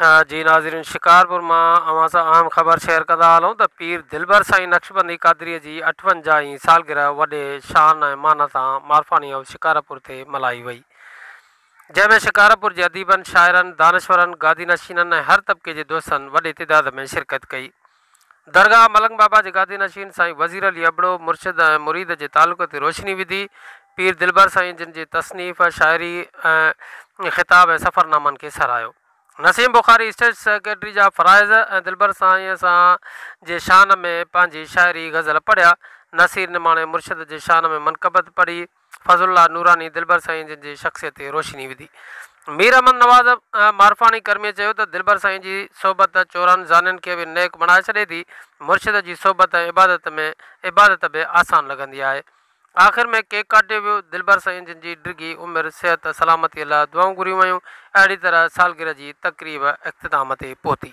ها جي ناظرين شڪارپور مان اوهان سان اهم خبر شيئر ڪندا هلون ته پير دلبر سائين نقشبندي قادريء جي اٺونجاهين سالگرهه وڏي شان ۽ مان سان مارفاني هائوس شڪارپور تي ملهائي وئي جنهن ۾ شڪارپور جي اديبن شاعرن دانشورن گادي نشينن ۽ هر طبقي جي دوستن وڏي تعداد ۾ شرڪت ڪئي درگاهه ملنگ بابا جي گادي نشين سائين وزير علي ابڙو مرشد ۽ مريد جي تعلق تي روشني وڌي. پير دلبر سائين جن جي تصنيف، شاعري ۽ خطاب ۽ سفرنامن کي ساراهيو. نسيم بخاري اسٽيٽ سيڪريٽري جا فرائض ۽ دلبر سائين سان جي شان ۾ پنهنجي شاعري غزل پڙهيا. نصير نماڻي مرشد جي شان ۾ منقبت پڙهي. فضل الله نوراني دلبر سائين جن جي شخصيت تي روشني وڌي. مير احمد نواز معرفاڻي ڪرميء چيو ته دلبر سائين جي صحبت چورن زانين کي به نيڪ بڻائي ڇڏي ٿي، مرشد جي صحبت ۽ عبادت ۾ عبادت به آسان لڳندي آهي. آخر ۾ ڪيڪ ڪاٽيو ويو، دلبر سائين جن جي ڊگهي عمر، صحت، سلامتيء لاء دعائون گهريون ويون، اهڙي طرح سالگرهه جي تقريب اختتام تي پهتي.